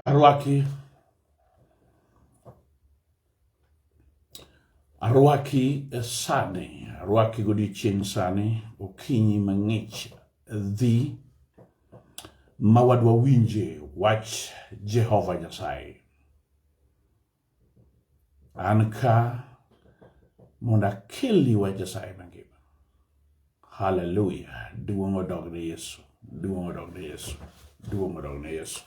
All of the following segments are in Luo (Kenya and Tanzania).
Arwaki. Arwaki e sani, arwaki godiochieng' sani, okinyi mang'ich dhi ma wadwa winje wach Jehova Nyasaye. An ka mondo akelni wach Nyasaye mangima. Haleluya. Duong' odog ne Yesu. Duong' odog ne Yesu. Duong' odog ne Yesu.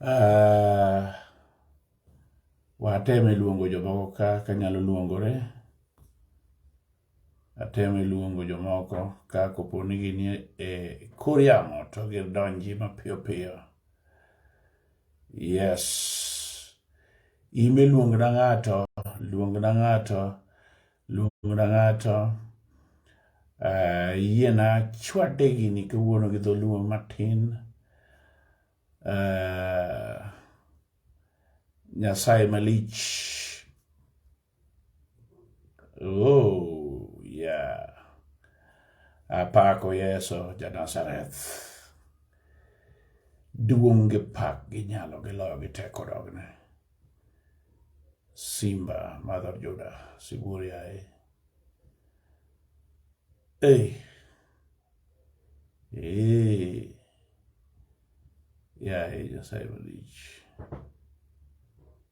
Uh, wateme luongo jomoko ka kanyalo luongore. ateme luongo jomoko ka kopo ni gini e kor yamo to gidonji mapiyo piyo. Yes. Ime luongna ng'ato, luongna ng'ato, luongna ng'ato. Uh, yiena chwade gini kawuono gi dholuo matin. Uh, Nyasaye malich. Oh, yeah. Apako Yesu ja Nazareth. Duong' gi pak gi nyalo gi loyo gi teko dogne. Simba madhor Juda, sibuor yaye. Ei. Ei. Yaye Nyasaye malich.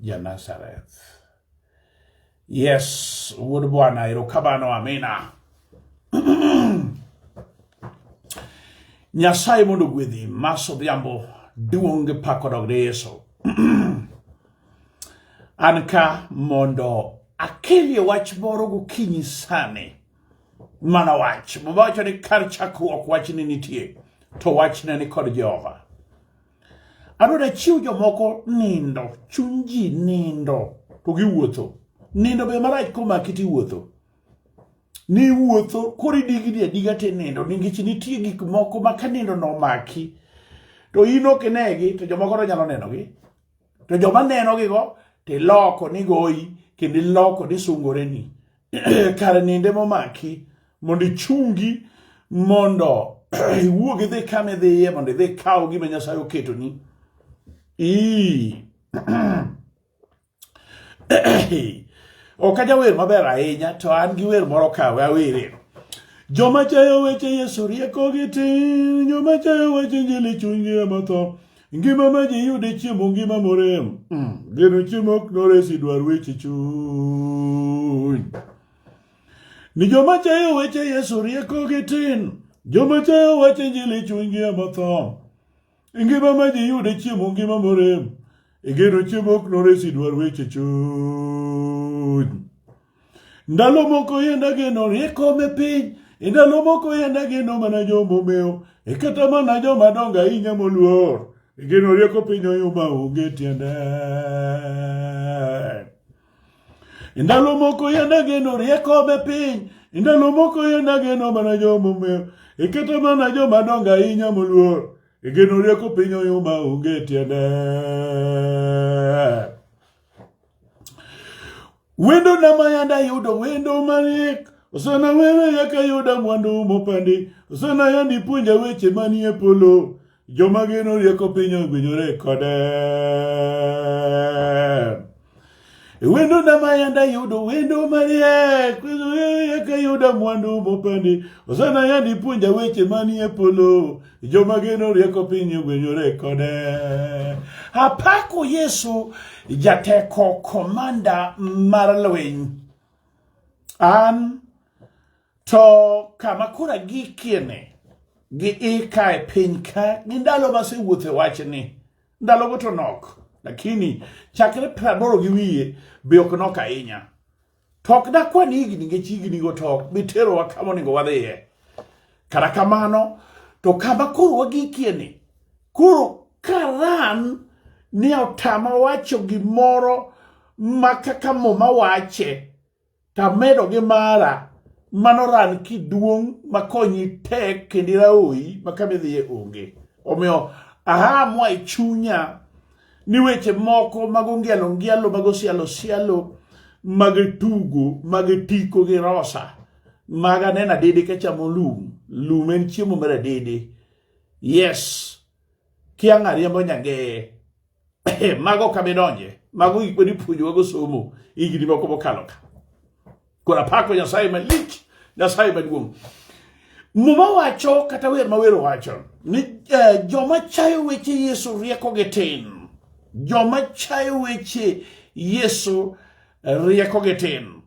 Ja-Nazareth. Yes, wuod Bwana, erokamano, amina. Nyasaye mondo gwedhi mas odhiambo duong' gi pak odog ne Yesu. An ka mondo akelie wach moro gokinyi sani mana wach muma wacho ni kar chakruok wachni nitie to wachne ni kod jehova Adwa ni achiw jomoko nindo, chuny ji nindo to giwuotho. Nindo be marach komaki tiwuotho. Niwuotho koro idigni adiga tinindo nikech nitie gik moko ma ka nindo nomaki to in ok inegi to jomoko to nyalo nenogi. To joma nenogigo tiloko nigoyi kendo iloko ni sungoreni. kar ninde momaki mondo ichungi mondo iwuog idhi kama idhiye mondo idhi kaw gima nyasaye oketoni ok ajawer maber ahinya to an gi wer moro kawe awereno joma chayo weche yesu riekogi tin joma chayo weche njili chunygi ematho Ngima ma ji yude chiemo ngima morem. Mm. Geno chiemo ok noresi dwar weche chuny. Ni joma chayo weche Yesu rieko gi tin. Joma chayo weche injili chunygi ema tho. Ngima ma ji yude chiemo ngima morem. Igeno chiemo ok noresi dwar weche chuny. Ndalo moko yenda geno rieko me piny, e ndalo moko yenda geno mana joma omewo, e kata mana joma dongo ahinya moluor. E geno rieko piny oyuma onge tiende. E ndalo moko yenda geno rieko me piny, e ndalo moko yenda geno mana joma omewo, e kata mana joma dongo ahinya moluor. E geno rieko piny oyuma onge tiende. Wendo na mayanda yudo wendo manik Osana wewe yaka yuda mwandu mopandi Osana yandi puonja weche manie polo Joma geno rieko piny ogwinyore kode Wendo na mayanda yudo wendo mariek Yaka yuda mwandu mopandi Osana yandi puonja weche manie polo Joma geno rieko piny ogwenyore kode. Apako Yesu jateko komanda mar lweny. An to kama koro agikieni gi ika e piny ka gi ndalo masewuotho e wachni ndalogo to nok lakini chakre praboro gi wiye be ok nok ahinya To ok dakwan higni nikech hignigo to ok bi terowa kama onego wadhiye. Kata kamano, to kama koro wagikie ni, koro karan ni otama wacho gimoro ma kaka muma wache, tamedo gi mara mano ran kiduong' makonyi tek kendo iraoyi ma kama idhiye onge. Omiyo ahamwa e chunya ni weche moko mag ongielo ngielo mag osialo sialo mag tugo mag tiko gi rosa mag aneno adede ka chamo lum lum en chiemo mar adede yes kiang' ariembo nyangeye mago kamidonje mago gik mane ipuonjowago somo higni moko mokalo ka Kora pako Nyasaye malich, Nyasaye maduong'. Muma wacho kata wer ma wer wacho ni uh, joma chayo weche Yesu rieko gi tin. Joma chayo weche Yesu rieko gi tin.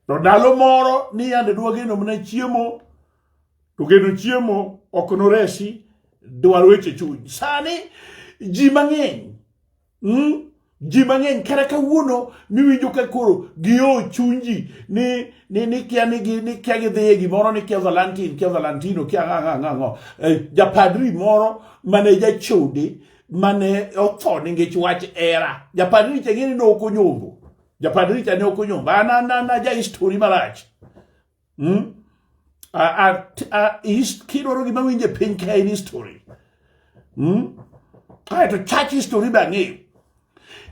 To ndalo moro ni yande dwa geno mana chiemo to geno chiemo ok noresi dwar weche chuny. Sani ji mang'eny Mm? ji mang'eny kata kawuono miwinjo ka koro gio chunji ni ni ni kia ni gi ni kia gidhiye gimoro ni kia valentin kia valentino kia ng'a ng'a ng'a eh, japadri moro mane jachode mane otho ningech wach era japadri cha ng'eni ne ok onyombo japadri cha ne ok onyombo an an an aja histori marach Mm? Kidwaro gima winje piny ka en history. Mm? Kaeto chach history be ang'eyo.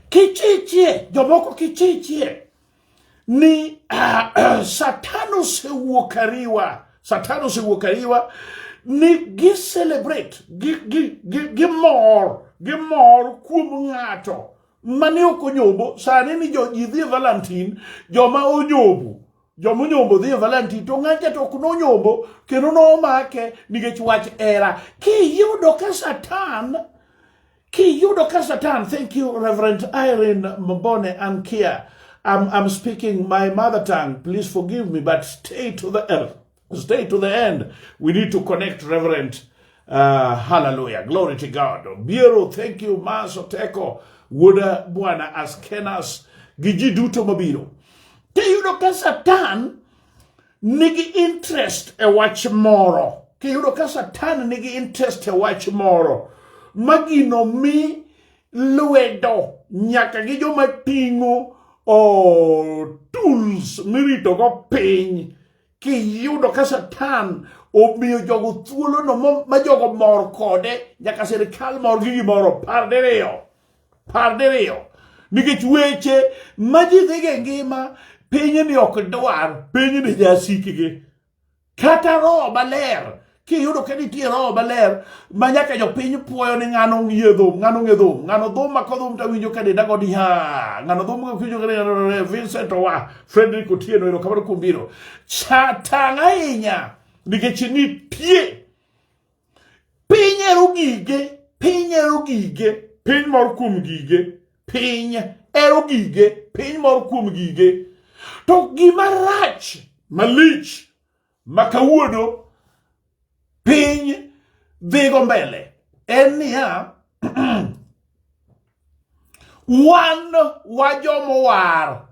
Kichichie, jomoko kichichie ni uh, Satan osewuok ariwa. Satan osewuok ariwa ni gi celebrate gi gi gi gi mor gi mor kuom ng'ato mane ok onyobo sani ni jo ji dhi Valentine joma onyobo joma onyombo dhi e valentine to ng'acha to ok nonyombo kendo nomake nikech wach era kiyudo ka satan kiyudo ka satan thank you reverend irene mbone an kia I'm, I'm speaking my mother tongue please forgive me but stay to the earth Stay to the end. We need to connect, Reverend. Uh, hallelujah. Glory to God. Biero, thank you, Maso Teko. Wuda Bwana Askenas. Giji duto mabiro. Tiyudo ka Satan nigi interest e wach moro. Kiyudo ka Satan nigi interest e wach moro. Magino mi lwedo nyaka gi joma ting'o oh, tools miritogo piny kiyudo ka satan omiyo jogo thuolono ma jogo mor kode nyaka sirikal mor gi gimoro par diriyo par diriyo nikech weche ma ji dhiga e ngima pinyni ok dwar pinyni jasikgi kata roho maler kiyudo ka nitie roho maler ma nyaka jopiny puoyo ni ng'ano ng'ie dhum ng'ano ng'e dhum ng'ano dhum ma kodhum to awinjo ka denda godi ha ng'ano dhum ka winjo ka denda Vincent Owa Frederick Otieno ero kamano kuom biro chatang' ahinya nikech nitie piny ero gige piny ero gige piny mor kuom gige piny ero gige piny mor kuom gige to gima rach malich ma kawuono piny dhigo mbele en niya wan wajomowar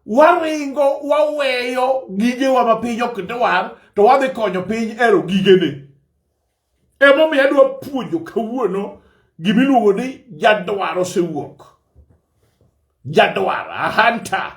waringo waweyo gigewa ma piny ok dwar to wadhi konyo piny ero gigene emomiyo adwa puonjo kawuono gimiluongo ni jadwar osewuok jadwar ahanta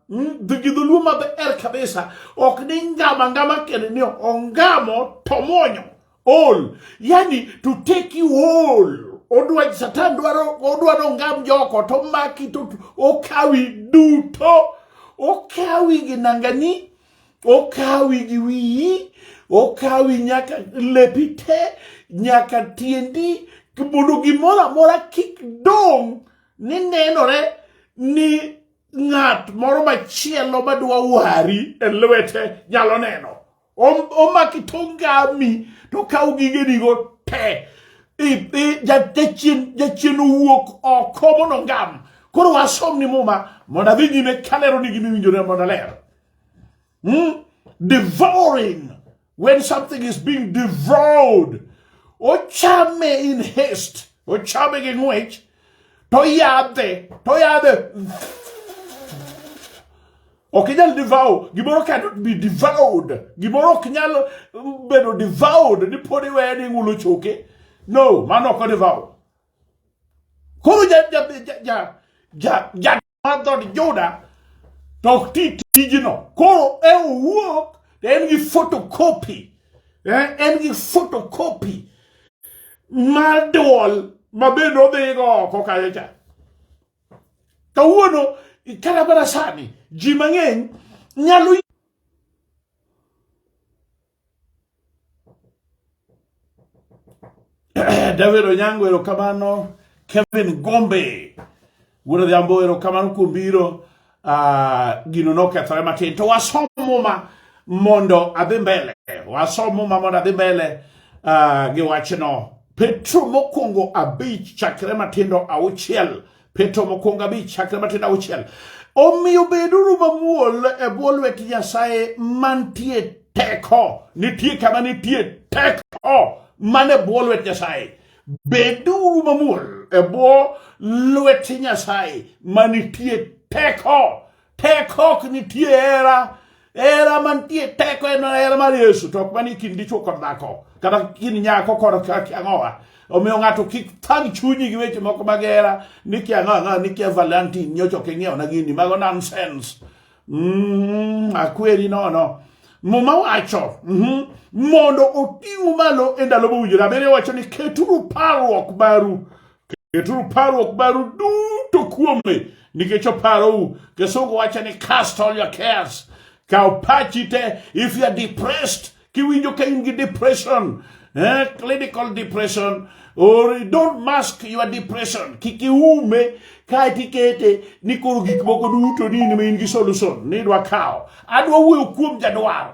Hmm? The Gidhuluo maber kabisa ok ni ngama ngama kende ni ongamo to mwonyo all yani to take you all odwa satan dwaro odwaro ngam joko to maki to okawi duto okawi gi nangani okawi gi wiyi okawi nyaka lepi te nyaka tiendi mondo gimoro amora kik dong' ni nenore ni ng'at moro machielo madwa wari e lwete nyalo neno. Omaki tongami to kaw gigenigo te. Jachien owuok oko mondo ngam. Koro wasom ni muma mondo adhi nyime kalero ni gimiwinjore mondo aler. mm? devouring when something is being devoured ochame in haste ochame gi ng'wech to yadhe to yadhe ok inyal devour gimoro cannot be devoured gimoro ok nyal bedo devoured ni pod iweye ni ng'ulo choke no mano ok odevour koro ja ja ja ja ja mar dhod Juda to ok ti tijno. Koro e owuok to en gi photocopy eh, en gi photocopy mar duol ma bende odhigo oko kanyo cha. Kawuono kata mana sani ji mang'eny nyalo David Onyango erokamano, Kevin Gombe wuod Odhiambo erokamano kuom biro. Uh, gino nokethore matin to wasom muma mondo adhi mbele wasom muma mondo adhi mbele uh, gi wachno petro mokwongo abich chakre matindo auchiel Petro mokwongo abich chakre matin auchiel omiyo beduru mamuol e bwo lwet Nyasaye mantie teko nitie kama nitie teko man e bwo lwet Nyasaye beduru mamuol e bwo lwet Nyasaye manitie teko Teko ok nitie hera. Hera mantie teko en hera mar Yesu to ok manie kind dichwo kod dhako kata kind nyako kod kiang'owa. Omiyo ng'ato kik thang chunyi gi weche moko mag hera ni kiang'o ang'o ni kia Valentine nyocha ok ing'iewona gini mago nonsense. Mm, akweri nono. Muma wacho mhm, mondo oting'u malo e ndalo mowinjore. Abiriyo wacho ni keturu parruok maru Keturu parruok maru duto kuome nikech oparou. Kisungu wacho ni cast all your cares. Kaw pachi te if you are depressed kiwinjo ka in gi depression eh, clinical depression or don't mask your depression kik iume kae tikete ni koro gik moko duto ni in ma in gi solution ni idwa kawo adwa wuoyo kuom jadwaro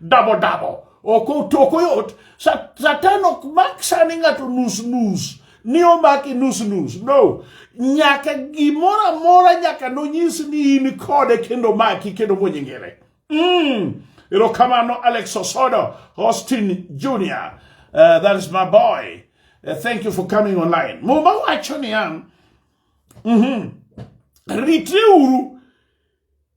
dabo dabo ok otoko yot satan ok mak sani ng'ato nus nus ni omaki nus nus no nyaka gimoro amora nyaka nonyis ni in kode kendo maki kendo monyingire mm. erokamano alex osodo austin junior uh, that is my boy uh, thank you for coming online muma wacho niya mm -hmm. ritreuru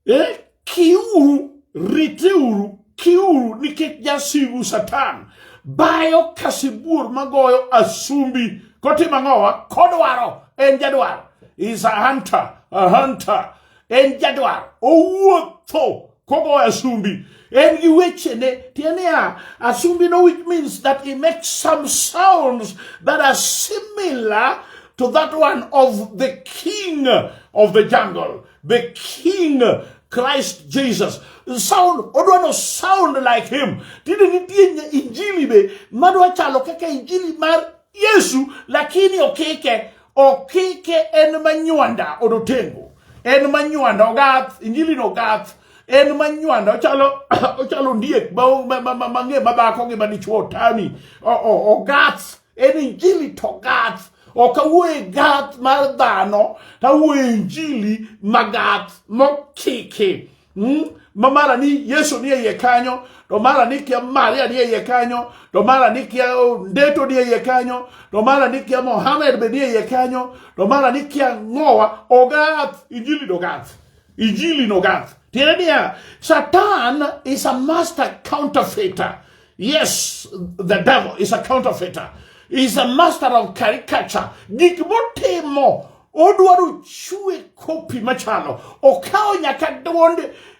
Eh, kiuru, riteuru, kiuru nikech jasigu Satan bayo ka sibuor magoyo asumbi kotimo ang'owa kodwaro en jadwaro is a hunter a hunter en jadwaro owuotho kogoyo asumbi en gi wechene tiende ya asumbi no which means that he makes some sounds that are similar to that one of the king of the jungle the king Christ Jesus. Sound, odwa no sound like him. Tinde nitie injili be madwa chalo kaka injili mar Yesu lakini okike okike en manywanda odotengo. En manywanda ogath injili no gath en manywanda ochalo ochalo ndiek mang'e ma dhako gi madichuo tani ogath en injili to gath ok awuoye gath mar dhano to awuoye injili magath mokiki mm? ma mara ni yesu ni eiye kanyo to mara ni kia maria ni eiye kanyo to mara ni kia ndeto ni eiye kanyo to mara ni kia mohamed be ni eiye kanyo to mara ni kia ng'owa ogath injili nogath injili nogath tiende niya satan is a master counterfeiter Yes, the devil is a counterfeiter. He's a master of caricature. Gik motimo odwaro chwe kopi machalo. Okawo nyaka duond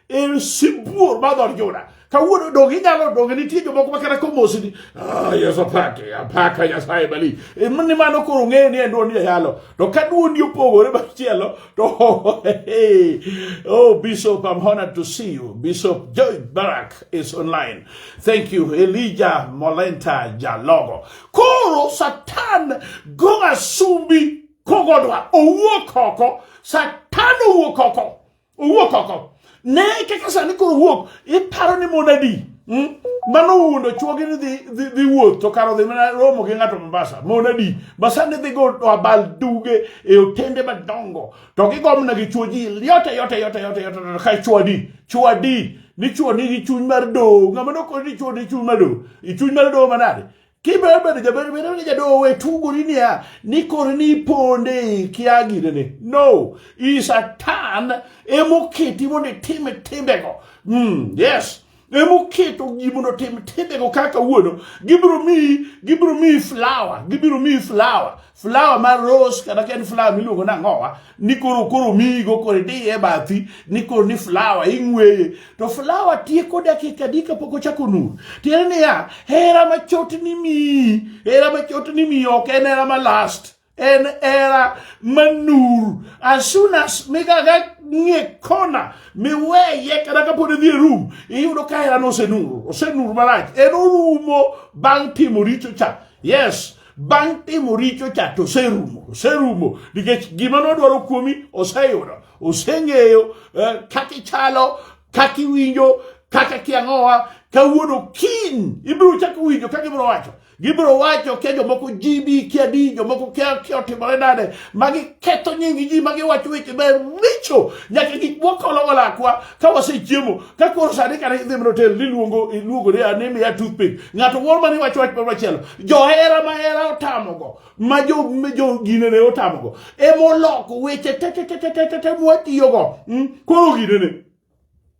eh, sibuor ma dhod Juda. Kawuono donge inyalo donge nitie jomoko makata komosi ni ah, Yesu apake apaka Nyasaye mali. E, ni mano koro ng'eyo ni en duond jayalo. To ka duondi opogore machielo Oh, hey. oh, Bishop, I'm honored to see you. Bishop Joy Barak is online. Thank you, Elijah Molenta Jalogo. Koro Satan Goga Sumbi Kogodwa Owokoko Satan Owokoko Owokoko Ne kaka sani koro wuok iparo ni mon adi hmm? mano wundo chuogi ni dhi wuoth to karo dhi mana romo gi ng'ato Mombasa mon adi ma sani dhi go abal duge e otende madongo to gigomna gi chuo ji yote yote yote yote yote ka chuo adi chuo adi ni chuo nigi chuny mar do ng'ama nokoni ni chuo ni chuny mar do chuny mar do manade Kiber bedo jaber bedo ni jadowo we tugori niya ni koro ni iponde ikia ginene. No, i Satan emoketi mondo itime timbego. Mm, yes. emoketo ji mondo tim timbego kaka wuono gibiro miyi gibiro miyi flower gibiro miyi flower flower mar rose kata ka en flower miluongo ni ang'owa ni koro koro miyigo koro idiye e bathi ni koro ni flower ing'weye to flower tieko dakika adi kapok ochako nur tiende niya hera machot ni miyi hera machot ni miyi ok en hera ma last en hera manur as soon as migaga ng'e kona miweye kata kapod idhi e rum iyudo ka herano osenur osenur marach en orumo bang' timo richo cha yes bang' timo richo cha to oserumo oserumo nikech gima nodwaro kuomi oseyudo oseng'eyo eh, kaka ichalo kaka iwinjo kaka kiang'owa kawuono kiny ibiro chako winjo kaka ibiro wacho gibiro wacho kia jomoko jibi kia di jomoko kia kia otimore nade ma giketho nying ji ma giwacho weche ma richo nyaka gik mwakologo lakwa ka wasechiemo ka koro sani kane idhi mondo tel niluongo iluongore ane miya toothpick ng'ato moro mane wacho wach machielo johera mahera otamogo ma jo jo gine ne otamogo ema oloko weche tetetetetete mwatiyogo hmm? koro gine ne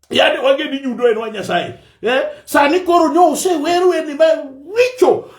yani wage ni yudo en wa nyasaye eh? sani koro nyo useweru eni ma richo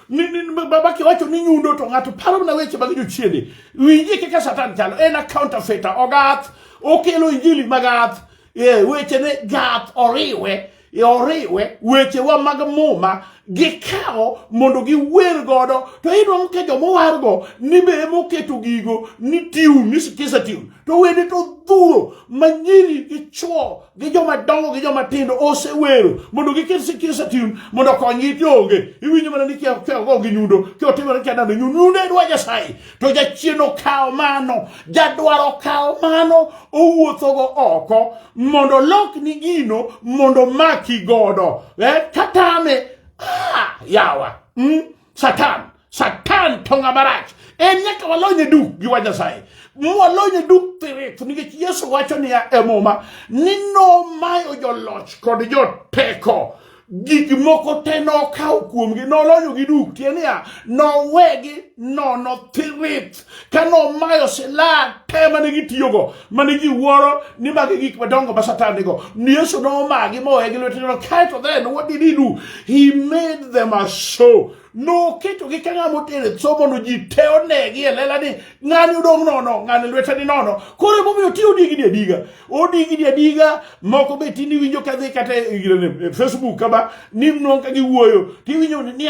baba kiwacho ni nyundo to ng'ato paro mana weche mag jochiende winjie kaka satan chalo en a counterfeiter ogath okelo injili magath e, wechene gath oriwe e, oriwe wechewa mag muma gikawo mondo giwer godo to inwang'o ka jomowargo ni be emoketo gigo ni tiun ni sikisa tiun to wende to dhuro manyiri gi chwo gi joma dongo gi joma tindo osewero mondo giket sikisa tiun mondo konygi ti onge iwinjo mana ni kiago gi nyundo kiotimore kiadando nyundo nyundo e dwa nyasaye to jachien okawo mano jadwaro kawo mano owuothogo oko mondo lokni gino mondo maki godo eh, katame ah, yawa mm, satan satan to ng'ama rach en nyaka walonye duk gi wa nyasaye mwalonye duk thirit nikech yesu wacho niya e muma ni nomayo joloch kod joteko gik moko te nokawo kuomgi nolonyogi duk tie niya nowegi nono thirit ka nomayo silaha te mane gitiyogo mane ji wuoro ni magi gik madongo ma satan nigo ni yesu nomagi mowegi lweteno kaeto then what did he do he made them a show noketogi ka ng'ama otere tso mondo ji te onegi e lela ni ng'ani odong' nono ng'ani lwete ni nono koro emomiyo ti odigni adiga odigni adiga moko be tini winjo ka dhi kata e, e facebook kama ni non ka giwuoyo tiwinjo ni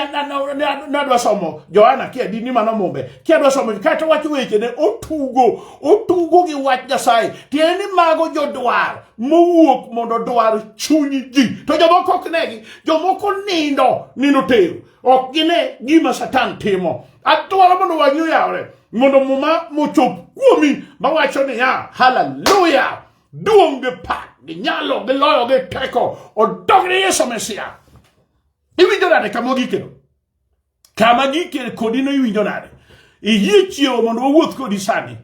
nadwa somo johana ki adi ni mano mumbe ki adwa somo kata wacho wechene otugo otugo gi wach nyasaye tiende ni mago jodwar mowuok mondo dwar chuny ji to jomoko ok negi jomoko nindo nindo tero ok gine gima satan timo adwaro mondo wang'i oyawre mondo muma mochop kuomi mawacho niya haleluya duong' gi pak gi nyalo gi loyo gi teko odog ne yesu mesia iwinjo nade kama ogikeno Kama gikere kodi no iwinjo nade? Iyie chiewo mondo wawuoth kodi sani.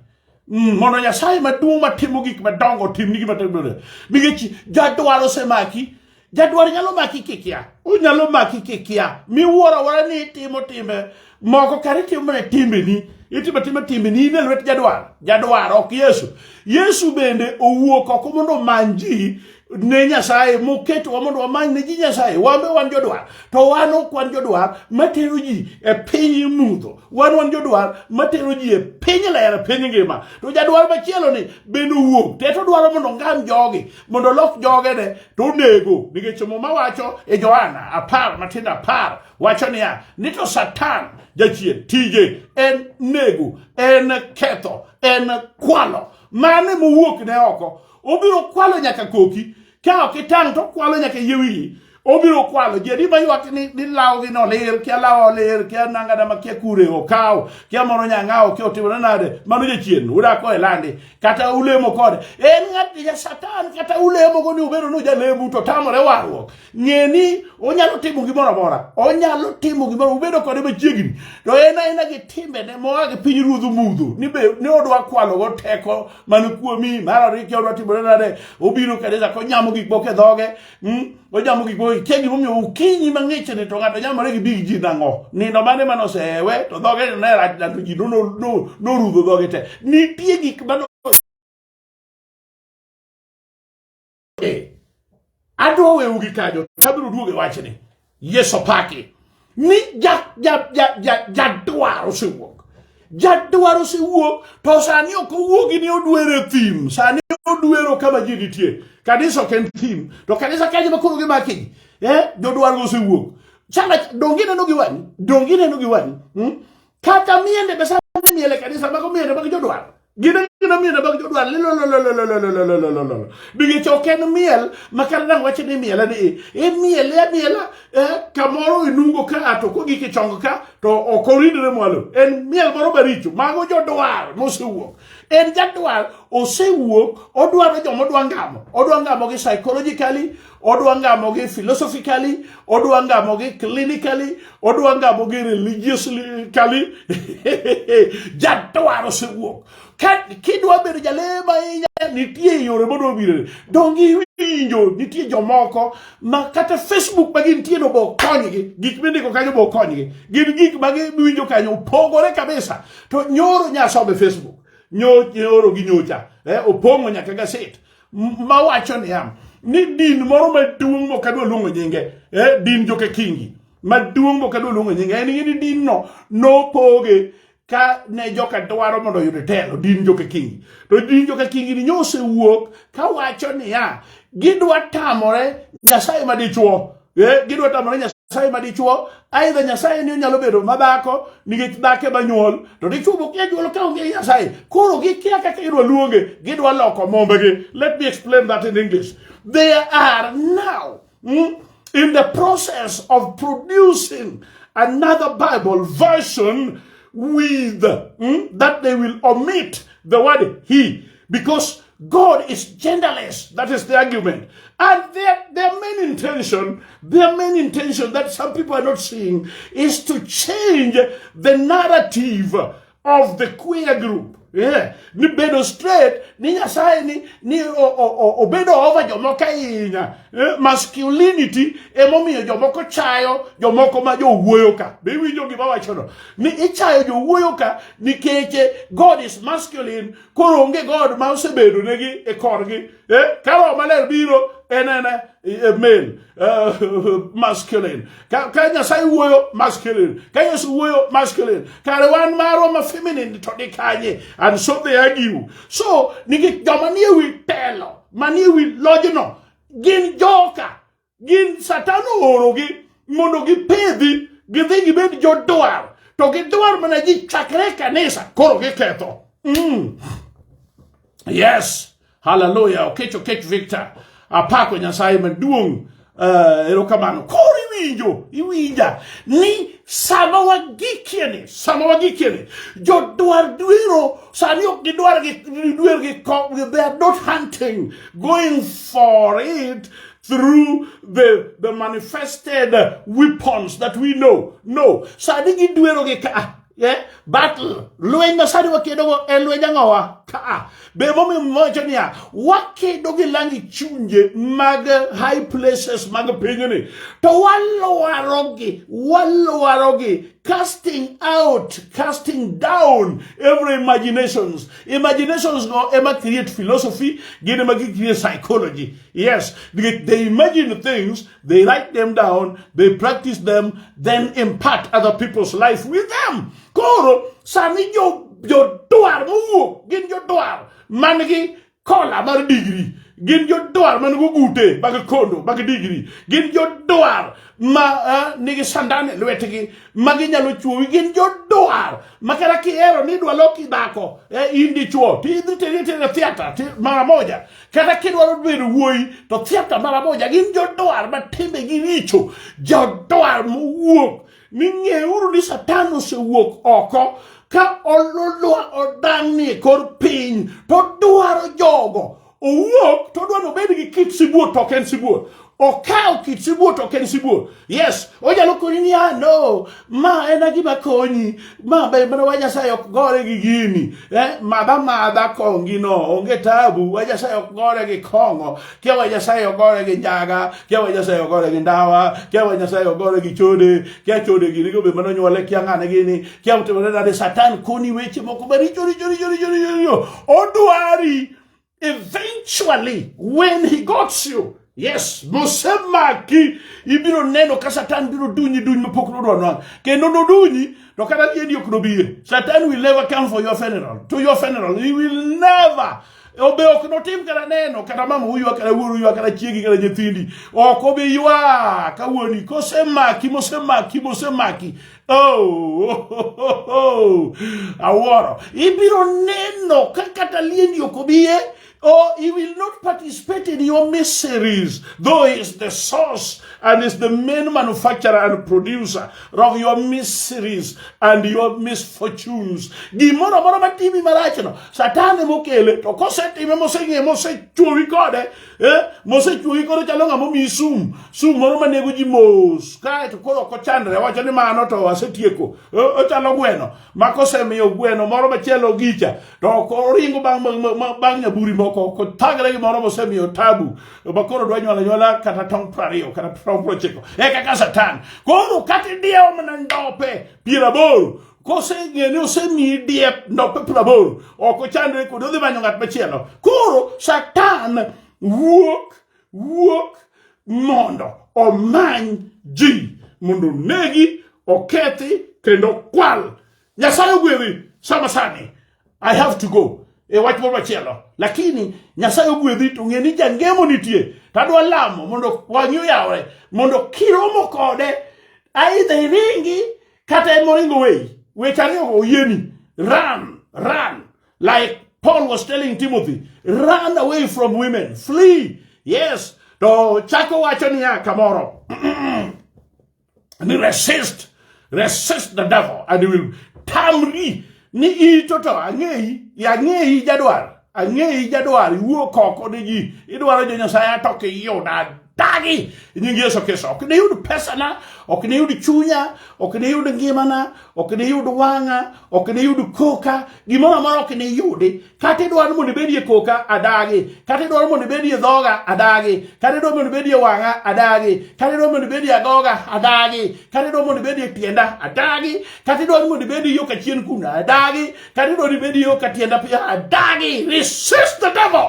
Mm, mondo Nyasaye maduong' matimo gik madongo timni gima timore. Nikech jadwar osemaki, jadwar nyalo maki kikia. Onyalo maki kikia. Miwuoro awuora ni itimo timbe moko kare itimo mana timbeni. Itimo timbe timbeni in e lwet jadwar. Jadwar ok Yesu. Yesu bende owuok oko mondo omany ji ne Nyasaye moketowa mondo wamany ne ji Nyasaye wan be wan jodwar to wan ok wan jodwar matero ji e piny mudho wan wan jodwar matero ji e piny ler piny ngima to jadwar machielo ni bende owuok te to dwaro mondo ngam jogi mondo lok joge ne to onego nikech muma wacho e Johana apar matindo apar wacho niya ni to Satan jachien tije en nego en ketho en kwalo mane mowuok ne oko obiro kwalo nyaka koki ka ok itang' to okwalo nyaka yie wiyi obiro kwalo ji adi maywak ni, ni lawgi no lir kia lawa olir kia nangada ma kia kure okawo kia moro nyang'awo kia otimore nade mano jachien udako e landi kata ulemo kode en ng'at ja satan kata ulemogo ni ubedo ni ujalemu to tamore warruok ng'e ni onyalo timo gimoro amora onyalo timo gimoro ubedo kode machiegni to en aena gi timbene moa gi piny ruodhu mudho ni be ni odwa kwalogo teko man kuomi mar ariyo kia odwa timore nade obiro kanisa konyamo gik moko e dhoge hmm? onyamo gik moko kia gimomiyo okinyi mang'ich ni to ng'ato nyamore gi big ji nang'o nindo mane mane osewe to dhoge ne rach na to ji norudho dhoge te nitie gik mano e. Adwa wewu gi kanyo, abiro duoge wachni. Yesu opaki. Ni ja ja ja ja ja dwar osewuok. Ja dwar osewuok to sani ok owuogi ni odwere thim. Sani odwero kama ji nitie. Kanisa ok en thim. To kanisa kanyo ma koro gimaki. Eh, jodwar osewuok. Chana dongi neno gi wani. Dongi neno gi wani. Hmm? kata miende be sani miel e kanisa mago miende mag jodwar gin gina miende mag jodwar lilolololololololololololo bingech ok en miel ma kata dang wache ni miela ni imiele amiela kamoro inungo ka ato kogik e chong ka to ok oridre mwalo en miel moro maricho mago jodwar mosewuok en jadwar osewuok odwaro joma odwa ngamo odwa ngamo gi psychologically odwa ngamogi philosophically odwa ngamogi clinically odwa ngamogi religiously jadwaro sewuok kidwa bedo jalema ahinya nitie yore mondo obire dongi winjo nitie jomoko ma kata facebook ma gintie no bo konygi gik mindiko kanyo bo konygi gin gik ma giwinjo kanyo opogore kabisa to nyoro nyasobe facebook nyoro gi nyocha eh, opong'o nyaka gaset mawacho niya ni din moro maduong' mok adwa luongo nyinge eh, din joka kingi maduong' mok adwa luongo nyinge en ni din no nopoge ka ne joka dwaro mondo oyud telo din joka kingi to din joka kingi ni nyose wuok kawacho niya gidwa tamore nyasaye madichuo Eh, gidwa tamore nyasaye ma dichuo aidha nyasaye ni onyalo bedo ma dhako nikech dhake ma nyuol to dichuo mokia nyuol ka onge nyasaye koro gikia kaka idwa luonge gidwa loko mombegi let me explain that in english they are now mm, in the process of producing another bible version with mm, that they will omit the word he Because God is genderless. That is the argument. And their, their main intention, their main intention that some people are not seeing is to change the narrative of the queer group. Yeah. Ni bedo straight, ni nyasaye ni, ni o, o, o, obedo over jomoko ahinya. Eh, masculinity emomiyo jomoko chayo jomoko ma jowuoyo ka. Be iwinjo gima wachono? Ni ichayo jowuoyo ka nikech eh, God is masculine, koro onge god ma osebedo negi e korgi eh? ka roho maler biro en en eh, male uh, masculine ka, ka nyasaye wuoyo masculine ka yesu wuoyo masculine kare wan marwa ma feminine to ni kanye and so they argue so nikech joma nie wi telo manie wi lojno gin joka gin satan oorogi mondo gipedhi gidhi gibed jodwar to gidwar mana ji chakre kanisa koro giketho mm. yes haleluya okech okech victor apako nyasaye maduong' uh, erokamano koro iwinjo iwinja ni sama wagikieni sama wagikieni jodwar dwero sani ok gidwar gidwer gi they are not hunting going for it through the, the manifested weapons that we know. No. Sadi gi duero gi ka. Yeah? Battle. Lweny ma sadi wakedo go e lweny ang'owa ka. Be momi mocho niya, wakedo gi langi chunje mag high places mag pinyni. To walwarogi, walwarogi, casting out, casting down every imaginations. Imaginations go ema create philosophy, gin ema gi create psychology. Yes, they, they imagine things, they write them down, they practice them, then impart other people's life with them. Koro, sami jo, jo duar muwuok, gin jo duar, man gi kola mar degree. gin jodwar man gugute mag kondo mag digri gin jodwar ma uh, nigi sandan e lwetgi ma ginyalo chuowi gin jodwar ma kata kihero ni idwa loki dhako eh, in dichuo tidhi tiri tiri theatre mara moja kata kidwaro bedo wuoyi to thiapta mara moja gin jodwar ma timbegi richo jodwar mowuok ni ng'euru ni satan osewuok oko ka ololwa odang'ni e kor piny to dwaro jogo owuok to odwani obed gi kit sibuor to ok en sibuor Okawo kit sibuor to ok en sibuor. Yes, onyalo konyi ni ah no, ma en gima konyi, ma be mana wa Nyasaye ok gore gi gini. Eh, madha madha kongi no, onge tabu, wa Nyasaye ok gore gi kong'o, kia wa Nyasaye ok gore gi njaga, kia wa Nyasaye ok gore gi ndawa, kia wa Nyasaye ok gore gi chode, kia chode gini go be mana onyuole kia ng'ane gini, kia utimore nade satan koni weche moko maricho richo richo richo richo. richo. Odwari Eventually, when he got you, yes, nosemaki, ibiro neno ka Satan biro dunyi duny mapok nodwa nwa. Kendo nodunyi, to kata liedi ok nobie. Satan will never come for your funeral, to your funeral. He will never. Obe ok notim kata neno, kata mama uywa, kata wuoru uywa, kata chiegi, kata nyithindi. Ok obi ywa, ka wuoni, kosemaki, mosemaki, mosemaki. Oh, awuoro ibiro neno ka kata liendi ok obiye or he will not participate in your miseries, though he is the source and is the main manufacturer and producer of your miseries and your misfortunes. Gimoro moro matimi marachno, Satan emokele, to kosetime moseng'e mosechuowi kode, Eh, mosechuogi koro chalo ng'ama omiyi sum sum moro manego ji mos kaeto koro ok ochandre wacho ni mano to asetieko eh, ochalo gweno ma kosemiyo gweno moro machielo gicha to oringo bang' nyaburi moko ok otagre gi moro mosemiyo tabu ma koro dwa nyuala nyuala kata tong' prariyo kata tong' prochiko eka ka satan koro kata idiewo mana ndope piero aboro koseng'e ni osemiyi diep ndope praboro ok ochandre kodi odhi manyo ng'at machielo koro satan wuok wuok mondo omany ji mondo onegi okethi kendo kwal nyasaye ogwedhi sama sani I have to go e wach moro machielo lakini nyasaye ogwedhi to ng'e ni jangemo nitie to adwa lamo mondo wang'i oyawre mondo kiromo kode aidha iringi kata en moringo weyi weche ariyogo oyieni run run like paul was telling timothy run away from women flee yes to chako wacho niya kamoro and resist resist the devil and he will tamri ni in toto ang'eyi ang'eyi jadwar ang'eyi jadwar iwuo koko ni ji idwaro jo nyasaye atok iyuda dagi nying yesu kristo ok niyud pesana ok niyud chunya ok niyud ngimana ok niyud wang'a ok niyud koka gimoro amora ok niyudi kata idwaro ni mondo ibedie koka adagi kata idwaro mondo ibedie dhoga adagi kata idwaro mondo ibedie wang'a adagi kata idwaro mondo ibedie agoga adagi kata idwaro mondo ibedie tienda adagi kata idwaro mondo ibedie yo kachien kuna adagi kata idwaro ibedie yo katienda pia adagi resist the devil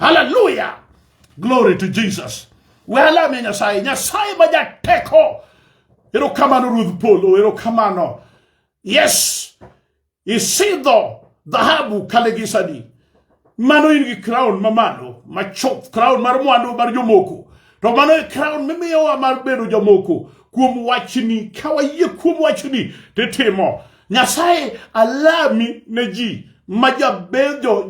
hallelujah glory to jesus welame nyasaye nyasaye ma jateko erokamano ruoth polo erokamano yes Isidho dhahabu kalegisani, mano in gi crown mamalo machop, crown mar mwandu mar jomoko, to mano e crown mimiyowa mar bedo jomoko kuom wachni. Ka wayie kuom wachni titimo, Nyasaye alami ne ji ma jabedo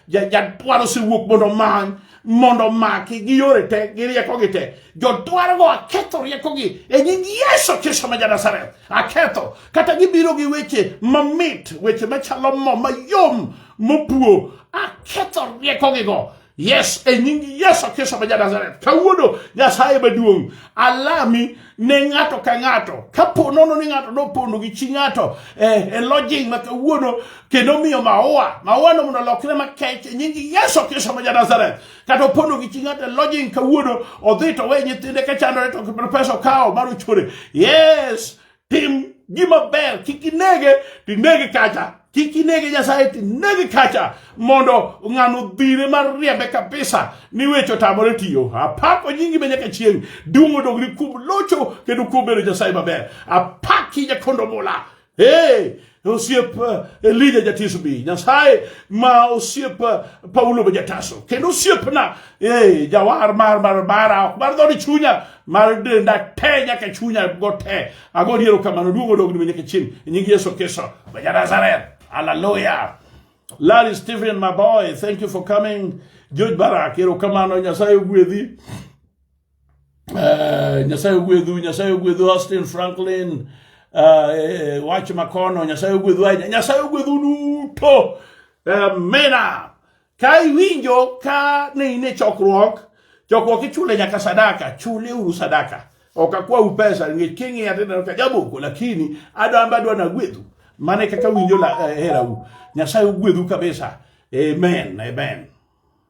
jadwaro osewuok mondo omany mondo omaki gi yore te gi riekogi te jodwarogo aketho riekogi e nying yesu kristo ma ja nazareth aketho kata gibiro gi weche mamit weche machalo mo mayom mopuo aketho riekogigo yes e nying yesu kristo ma janazareth kawuono nyasaye maduong' alami ne ng'ato ka ng'ato kapo nono ni ng'ato nopondo gi chi ng'ato eh, e lodging ma kawuono kendo miyo maua maua no mondo olokre makech e nying yesu kristo ma janazareth kata opondo gi chi ng'ato e lodging kawuono odhi to we nyithinde ka chandore to pesa okawo mar ochore yes tim gima ber kik inege to inege kacha kik inege nyasaye to inege kacha mondo ng'ano dhire mar riembe kabisa ni weche otamore tiyo apako nyingi ma nyaka chieng' duong' odogri kuom locho kendo kuom bedo nyasaye maber apaki jakondo mula Hey, osiep eh, Elija jatiso bi Nyasaye ma osiep eh, Paulo be jataso kendo osiepna hey, jawar mar mar mara mar dhoni chunya mar denda te nyaka chunya go te ago diero kamano duogo dogni nyaka chieng e nying Yesu Kristo ma Nazareth hallelujah Larry Stephen my boy thank you for coming George Barak ero kamano Nyasaye ogwedhi eh, nyasaye ogwedhu nyasaye ogwedhu austin franklin eh, wach makono nyasaye ogwedhu ahinya nyasaye ogwedhu duto amina ka iwinjo ka ne in e chokruok chokruok ichule nyaka sadaka chule uru sadaka ok akwau pesa nikech king'iya tineno ka jaboko lakini adamba adwa nagwedhu mano e kaka winjo la- eh, herau nyasaye ogwedhu kabisa amen amen